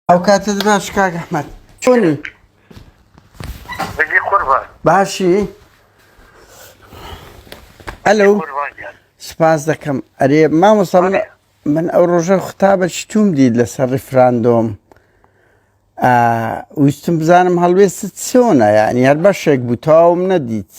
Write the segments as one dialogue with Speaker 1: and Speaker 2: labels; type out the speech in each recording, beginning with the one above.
Speaker 1: ئەو کاتت باش کاک ئەحمەد چۆنی
Speaker 2: بەجێ قوربان
Speaker 1: باشی ئەلو قوربان گیان سپاس دەکەم ئەرێ مامۆستا من بەڵێ. من ئەو ڕۆژە خوتابە چتوم دیت لەسەر ڕیفراندۆم آه، ویستم بزانم هەڵوێستت چۆنە یعنی هەر بەشێک بوو تەواوم نەدیت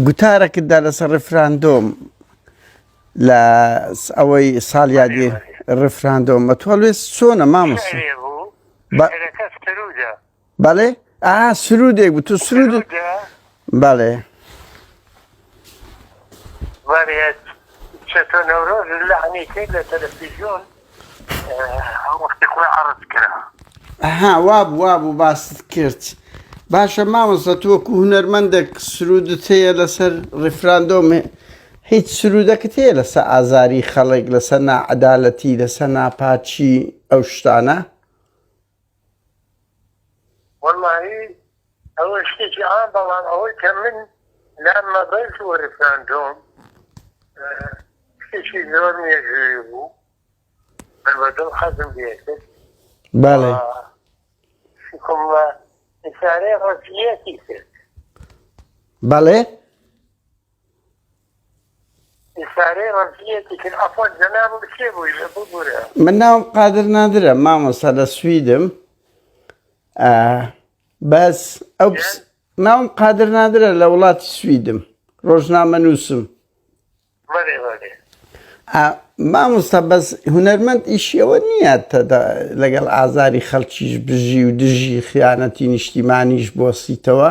Speaker 1: گوتارەکتدا لەسەر ڕفراندۆم لە ئەوەی ساڵ یادی ڕفراندۆم بە تۆڵێ چۆنە مامۆس بەڵێ ئا سرودێک بوو تو سرود بەڵێ
Speaker 2: وەرێت چەتۆ نەورۆز لەعنی کرد لە تەلەفیزیۆن وەختی خۆی عەڕز کرا ها واب واب و
Speaker 1: باست کرد باشە مامۆستا تۆ وەکو هونەرمەندێک سرودت هەیە لەسەر ڕیفراندۆم هیچ سرودەکەت هەیە لەسەر ئازاری خەڵک لەسەر ناعەدالەتی لەسەر ناپاچی ئەو شتانە
Speaker 2: وەڵاهی ئەوە شتێکی عام بەڵام ئەوەی کە من لام مەبەست و ریفراندۆم شتێکی زۆر مێژووی بوو من بە دڵ حەزم لێکرد بەڵێ شکم لە ئیسارەی ڕەزیەتی کرد
Speaker 1: بەڵێ
Speaker 2: من ناوم قادر
Speaker 1: نادرە مامۆستا لە سویدم بەس ئەو ناوم قادر نادرە لە وڵاتی سویدم ڕۆژنامە نووسم مامۆستا بەس هوەرمەند ئیشیەوە نییە لەگەڵ ئازاری خەڵکیش بژی و دژی خیانەتی نیشتیمانیش بۆسیتەوە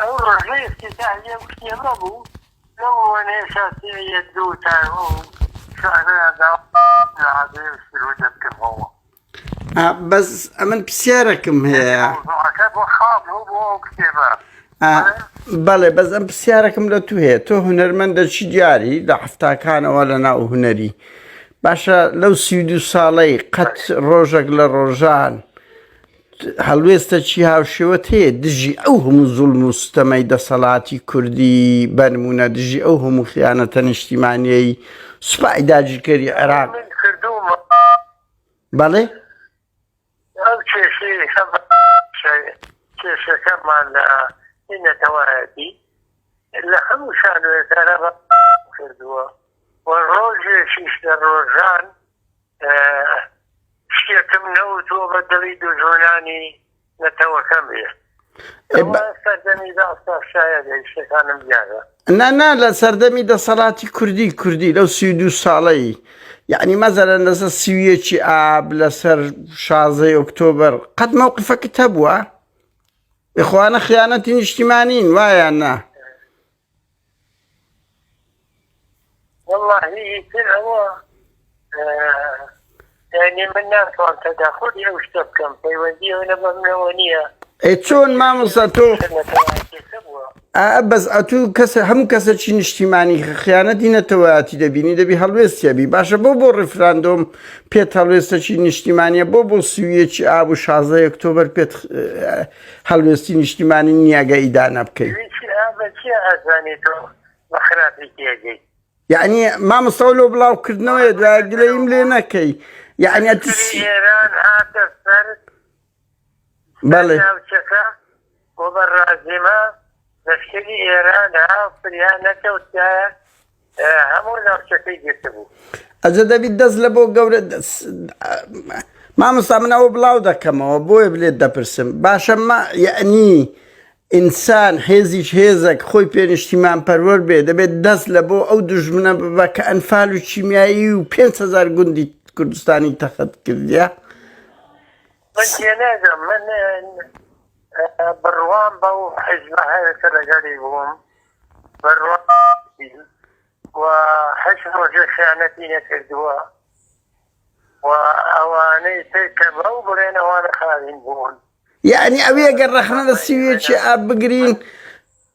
Speaker 2: ئەو ڕۆژەی ئیفتیتاحییە وتی ئەمە بوو، لەو ڕووەنەیە شاسیعییە دوو تا ئەو شعرەیان دا لە عادەی ئەو سروودە بکەمەوە. ئا
Speaker 1: بەس ئەمن پرسیارەکم هەیە. یانی مەوزوعەکە بۆ خاڵ
Speaker 2: بوو بۆ ئەو کتێبە. ئا
Speaker 1: بەڵێ بەس ئەم پرسیارەکم لە تو هەیە تۆ هونەرمەندەکی دیاری لە حەفتاکانەوە لە ناو هونەری باشە لەو سی و دوو ساڵەی قەت ڕۆژەک لە ڕۆژان هەڵوێستەکی هاوشێوەت هەیە دژی ئەو هەموو زوڵم و ستەمەی دەسەڵاتی کوردی بەنمونە دژی ئەو هەموو خیانەتە نیشتیمانیەی سوپای داگیرکەری عێراق بەڵێ کێشەکەمان لە نەتەوایەتی لە
Speaker 2: هەموو شانوێکارە کردووە و ڕۆژێکیش لە ڕۆژان شتێکم نەوتۆ بە دڵی دوژمنانی نەتەوەکەم بێ نانا لە
Speaker 1: سەردەمی دەسەڵاتی کوردی کوردی لەو سی دو ساڵەی یعنی مەزەرەن لەسەر سیویەکی ئاب لەسەر شازەی ئۆکتۆبەر قەت مەوقفەکە هەبووە بخواانە خیانەتی نیشتیمانین وایە نا وەڵا هی ئیتر ئەوە یانی من ناتوان تەداخۆری ئەو
Speaker 2: شتە بکەم پەیوەندی ئەو نە بەمنەوە نییە ئەی چۆن مامۆستا
Speaker 1: تۆ نەتەوایەتێکە بووە ئا بەس ئەتوو کەسە هەموو کەسەکی نیشتیمانی خیانەتی نەتەوەیاتی دەبینی دەبی هەڵوێستیەبی باشە بۆ بۆ ڕیفراندۆم پێت هەڵوێستەکی نیشتیمانیە بۆ بۆ سویەکی ئاب و شازدە ئۆکتۆبەر پێت هەڵوێستی نیشتیمانی نیاگە ئیدانە بکەین یعنی مامەسەوە لۆ بڵاوکردنەوەی دوای گلەیم لێ نەکەی یعنی ئێران
Speaker 2: هاتە سەر
Speaker 1: بەڵێ بۆ
Speaker 2: بەڕازیمە لەشکری ئێرانە فریا نەکەوت کە هەموو ناوچەکەی گرتبوو. ئەجە دەبیت دەست
Speaker 1: لە بۆ گەورە مامۆستا من ئەوە بڵاو دەکەمەوە بۆیە بلێت دەپرسم باشە مە یعنی ئینسان حێزیش هێزەک خۆی پێنیشتیمان پەروەەر بێ دەبێت دەست لە بۆ ئەو دژمنە ببە کە ئەنفال و چیمیایی و 500 گوندی کوردستانی تەخت کردە
Speaker 2: من تێناگەم من بڕوام بەو حزبە هەیە کە لەگەری بووم بڕوا و هەش ڕۆژێ خیانەتی نەکردووە و ئەوانەی تر کە بەو بڵێن ئەوانە خاوین بوون یعنی ئەوێگە
Speaker 1: ڕەخنە لە سیوێکی ئاب بگرین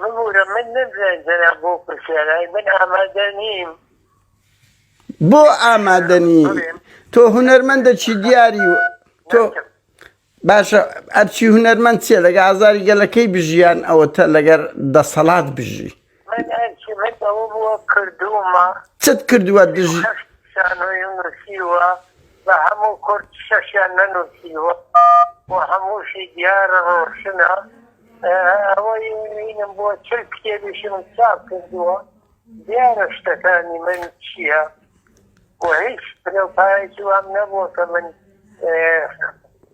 Speaker 2: ببورە من نەمزانی جەناب
Speaker 1: بۆ پرسیارای من ئامادە نیم بۆ ئامادە نی تۆ هونەرمەندە چی دیاری و تۆ باشە ئەرچی هونەرمەند چێ لەگە ئازاری گەلەکەی بژیان ئەوە تە لەگەر دەسەڵات بژی من ئەرکیمن
Speaker 2: ئەوە بووە کردوومە. چت کردووە
Speaker 1: دژی. شەش شانۆیم
Speaker 2: نووسیوە بە هەموو کورد شەشیان نەنووسیوە و هەمووشی دیارە ڕۆشنە ئەوەی نوینم بۆ چل کتێبیشم چاپ کردووە دیارە شتەکانی من چییە و هیچ پلە و پایەکی وام نەبووە کە من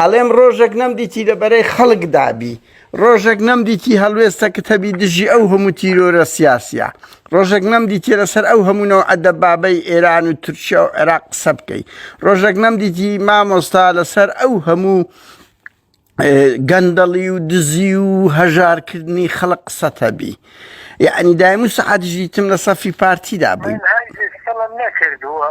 Speaker 1: ئەڵێم ڕۆژێک نەمدیتی لە بەرەی خەڵکدا بی ڕۆژێک نەمدیتی هەڵوێستەکت هەبی دژی ئەو هەموو تیرۆرە سیاسیە ڕۆژێک نەمدیتی لەسەر ئەو هەموونەوە ئەدە بابەی ئێران و تورکیا و عێراق قسە بکەی ڕۆژێک نەمدیتی مامۆستا لەسەر ئەو هەموو گەندەڵی و دزی و هەژارکردنی خەڵق قسەتە بی یعنی دایم و سەعاتژیتم لە سەفی پارتیدا بووین
Speaker 2: نەکردووە.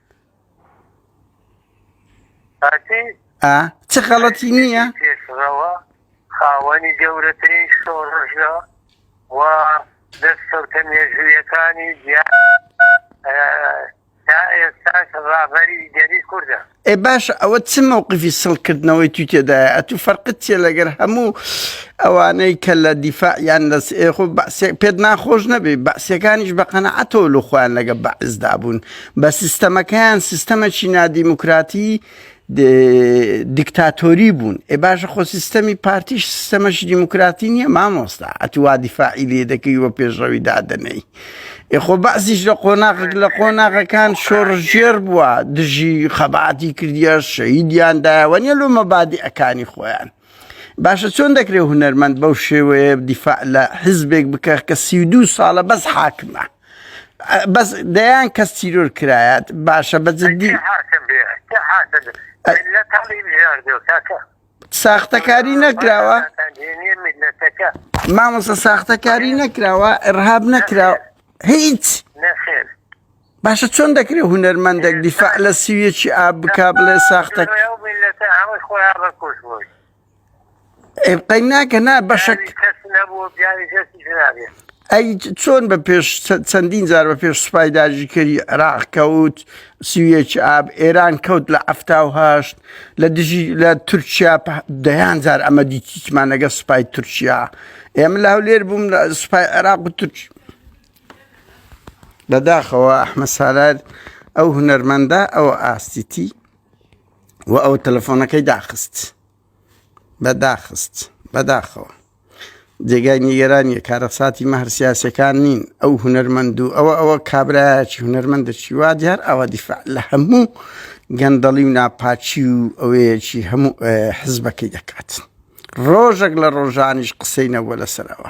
Speaker 1: چ
Speaker 2: خەڵەتی نییە پێشڕەوە خاوەنی گەورەترین شۆڕژە و دەستکەوتە مێژوویەکانی تا ئێستاش ڕابەری گەری کوردە ئێ باش
Speaker 1: ئەوە چ مووقفی سڵکردنەوەی تو تێدایە ئەتو فەرقت چێ لەگەر هەموو ئەوانەی کە لە دیفاع یان لە خۆ پێت ناخۆش نەبێ بەسیەکانیش بە قەنەعەتەوە لە خۆیان لەگە بەعزدا بوون بە سیستەمەکەیان سیستەمەکی نادیموکراتی دیکتاتۆری بوون ئێ باشە خۆ سیستەمی پارتیش سیستەمەش دیموکراتی نییە مامۆستا ئەتووا دیفاعی لێ دەکەی وە پێشڕەوی دادنەی ئێخۆ بەعزیش لە قۆناغک لە قۆناغەکان شۆڕژێر بووە دژی خەباتی کردە شەیدیاندایەوە نیە لۆ مەبادی ئەکانی خۆیان باشە چۆن دەکرێت هوەرمەند بەو شێوەیە دیفاع لە حزبێک بکە کە سی دو ساڵە بەس حاکمە بەس دەیان کەس تیرۆر کرایات باشە بە جدی
Speaker 2: ساختەکاری
Speaker 1: نەکراوە مامۆسە ساختەکاری نەکراوە ئەرهاب نەکراوە هیچ
Speaker 2: باشە
Speaker 1: چۆن دەکرێت هوەرمەندێک دیفاع لە سیویەکی ئاب بک بڵێ ساختە ئێبقای ناکە نا بەشک ئەی چۆن بە پێش چەندین جار بە پێش سوپای داژیکەری عراق کەوت سیویەک ئاب ئێران کەوت لە ئەفتاهشت لە دژی لە تورکیا دەیان جار ئەمە دیتیمان لەگە سوپای تورکیا ئێمە لە هەولێر بووم لە سوپای عێراق و تورک بەداخەوە ئەحمە سالار ئەو هونەرمەندە ئەو ئاستیتی و ئەو تەلەفۆنەکەی داخست بەداخست بەداخەوە جێگای نیگەرانیە کارەساتی مەهر سیاسەکان نین ئەو هوەرمەند و ئەوە ئەوە کابراایکی هوەرمەند دەچی وا دیار ئەوە دیفاع لە هەموو گەندەڵی و ناپاچی و ئەوەیەکی هەموو حزبەکەی دەکات ڕۆژێک لە ڕۆژانیش قسەینەوە لەسەرەوە